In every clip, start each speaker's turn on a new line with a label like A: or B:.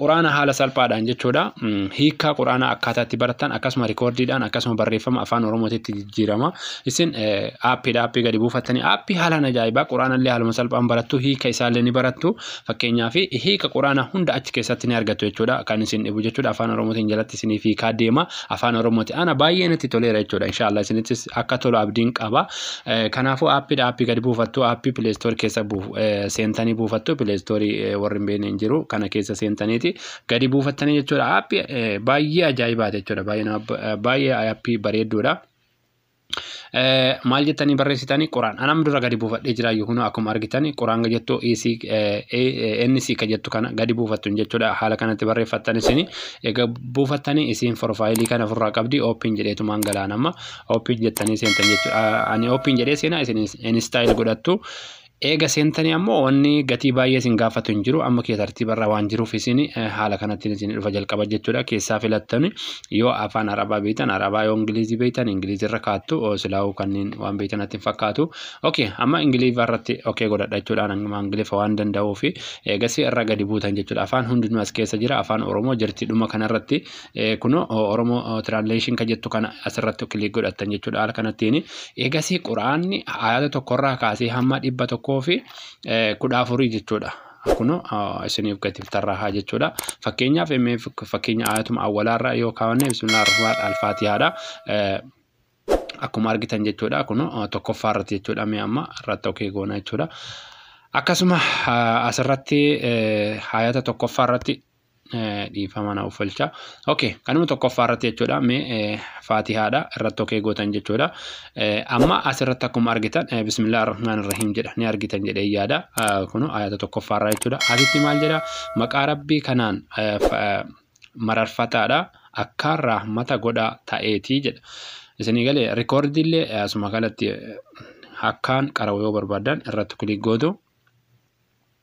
A: Quraana haala salphaadhaan jechuudha hiikkaa quraanaa akkaataa itti barattan akkasuma rikoordiidhaan akkasuma barreeffama afaan oromootitti jijjiirama isin aappiidha aappii gadi buufattanii aappii haalaan ajaa'ibaa quraanallee haaluma salphaan barattu hiika isaallee ni barattu fakkeenyaa fi hiika quraanaa hunda achi keessatti ni argattu jechuudha kan isin dhibu jechuudha afaan oromootiin jalatti isiniif hiikaa deema afaan oromooti ana baay'ee natti toleera jechuudha inshaallah isinittis akka tolu abdiin qaba Eh, Kanaafuu aappiidha aappii gadi buufattu aappii pileestoorii keessa buuf- eh, seentanii buufattu pileestoorii eh, warri hin beekne hin jiru kana keessa seentaniiti gadi buufattanii jechuudha aappii eh, baay'ee ajaa'ibaati jechuudha baay'ee nama- eh, baay'ee aappii bareedduudha. Eh, maal jettanii barreessitanii quraan anam dura gadi buufadhee jira yookiin akkuma argitanii quraan jettu EC, eh, eh, NC ka jettu kana gadi buufattu hin jechuudha haala kanatti barreeffattan isin egaa buufattanii isiin forfaayilii kana ofirraa qabdi ooppiin jedheetumaan galaanamma Open jettanii seentan jechuudha. Ani open jedhee seenaa isin install godhattu. Eega seentanii ammoo wanni gatii baay'ee isin gaafatu hin jiru. Amma kee tartiibarra waan jiruuf isin haala kanattiin isin dhufa jalqaba jechuudha. Keessaa filattani yoo afaan Arabaa beektan Arabaa yoo Ingilizii beektan Ingilizirra kaattu silaa'uu kanneen waan beektan natti hin fakkaatu. Okay amma Ingiliffa irratti okay godhadha jechuudha. Amma Ingiliffa waan danda'uuf eegasii irra gadi buutan jechuudha. Afaan hundinuu as keessa jira. Afaan Oromoo jirti dhuma kanarratti Kuno Oromo Translation kan jettu kana asirratti kilik godhattan jechuudha haala kanattiin. Eegasii Quraanni ayata tokkorraa kaasee hamma dhibba tokkoo fi kudha afurii jechuudha. Kuno isiniif gatiif tarraahaa jechuudha. Fakkeenyaaf MF fakkeenya ayatuma awwalaarraa yoo kaawwanne bismillah ar-rahmaan al-faatihaadha. Akkuma argitan jechuudha kuno tokkoffaa irratti jechuudha mee amma irratti okee goona jechuudha. Akkasuma asirratti ayata tokkoffaa irratti dhiifama na uffalcha okay kanuma tokkoffaa irratti jechuudha mee faatihaadha irratti okee gootan jechuudha amma as irratti akkuma argitan bismillah arrahmaan irrahiim jedha ni argitan jedhee yaada kunu ayata tokkoffaa irraa jechuudha asitti maal jedha maqaa rabbii kanaan mararfataadha akkaan rahmata godhaa ta'eetii jedha isinii galee rikoordiillee asuma kanatti akkaan qarawa yoo barbaadan irratti kulik gootu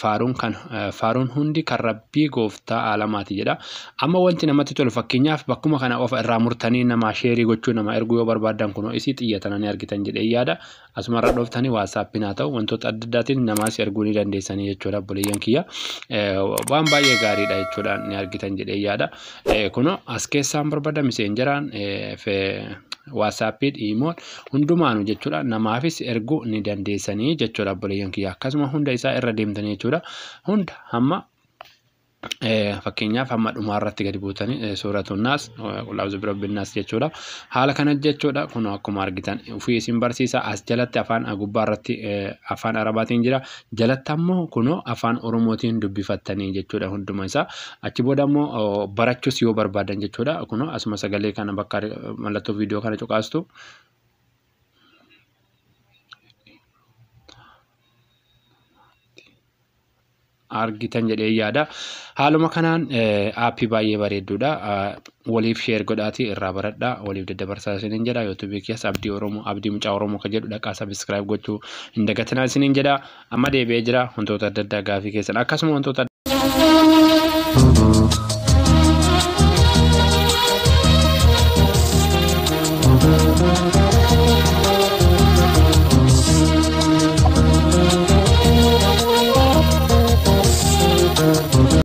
A: faaruun kan faaruun hundi kan rabbii gooftaa aalamaati jedha amma wanti namatti tolu fakkeenyaaf bakkuma kana of irraa murtanii namaa sheerii gochuu nama erguu yoo barbaaddan kunoo isii xiyyatana ni argitan jedhee yaada asuma irra dhooftanii waasaappiin haa ta'u wantoota adda addaatiin namaas erguu ni dandeessanii jechuudha obboleeyyan kiyya waan baay'ee gaariidha jechuudha ni argitan jedhee yaada kunoo as keessaan barbaada miseenjeraan waasaappii dhiimoon hundumaanu jechuudha namaafis erguu ni dandeessanii jechuudha obboleeyyan kiyya akkasuma hunda isaa irra deemtanii jechuudha hunda hamma fakkeenyaaf hamma dhumaa irratti gadi buutanii suuratu naas qulaazu birabbi naas jechuudha haala kana jechuudha kun akkuma argitan ofii isin barsiisa as jalatti afaan gubbaa irratti afaan arabaatiin jira jalatta immoo kunoo afaan oromootiin dubbifattanii jechuudha hunduma isaa achi booda immoo barachuus yoo barbaadan jechuudha kunoo asuma sagalee kana bakka mallattoo viidiyoo kana cuqaastu argitan jedhee yaada haaluma kanaan aappii baay'ee bareedduudha waliif share godhaatii irraa baradhaa waliif daddabarsaa isiniin jedha youtube kiyas abdii oromoo abdii mucaa oromoo ka jedhu dhaqaa subscribe gochuu hin dagatinaa isiniin jedha amma deebi'ee jira wantoota adda addaa gaafii keessan akkasuma wantoota